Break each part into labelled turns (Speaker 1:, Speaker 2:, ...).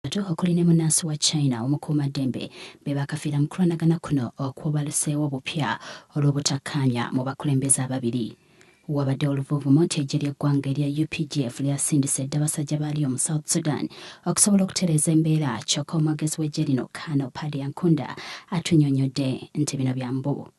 Speaker 1: basatu okuli ne munnansi wa China omukuumaddembe be baakafiira mu kulwanagana kuno okwabaluseewo obupya olw'obutakkaanya mu bakulembeze ababiri. Wabaddewo oluvuuvumo nti eggye ly'eggwanga erya updf lyasindise dda basajja baalyo mu South Sudan okusobola okutereeza embeera kyokka omwogezi w'eggye lino Colonel Paddy Ankunda atunyonyodde nti bino bya mbu.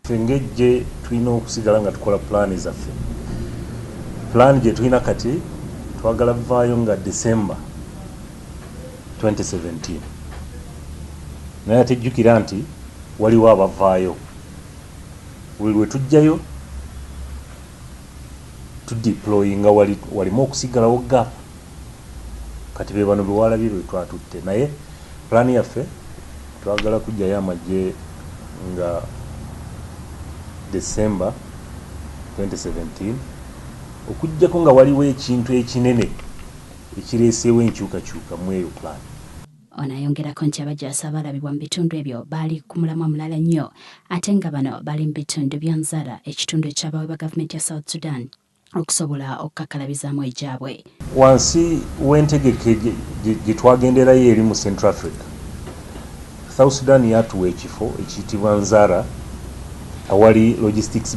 Speaker 1: Ffe ng'eggye
Speaker 2: tulina okusigala nga tukola pulaani zaffe. Pulaani gye tulina kati twagala kuvaayo nga December twenty seventeen naye ate jjukira nti waliwo abavaayo buli lwe tujjayo tudiployinga walimu okusigalawo gap Kati bebano bewalabye betwatutte naye plan yaffe twagala kujjayo amajje nga December twenty seventeen okujjako nga waliwo ekintu ekinene ekireseewo enkyukakyuka mweyo plan. Ono ayongerako
Speaker 1: nti abajaasi abaalabibwa mu bitundu ebyo baali ku mulamwa mulala nnyo ate nga bano baali mu bitundu bya Nzara ekitundu ekyabawebwa gavumenti ya South Sudan. okusobola okukakkalabizamu egyabwe. Wansi
Speaker 2: w'entegeka gye twagenderayo eri mu Central Africa, South Sudan yatuwa ekifo ekiyitibwa Nzara awali Logistics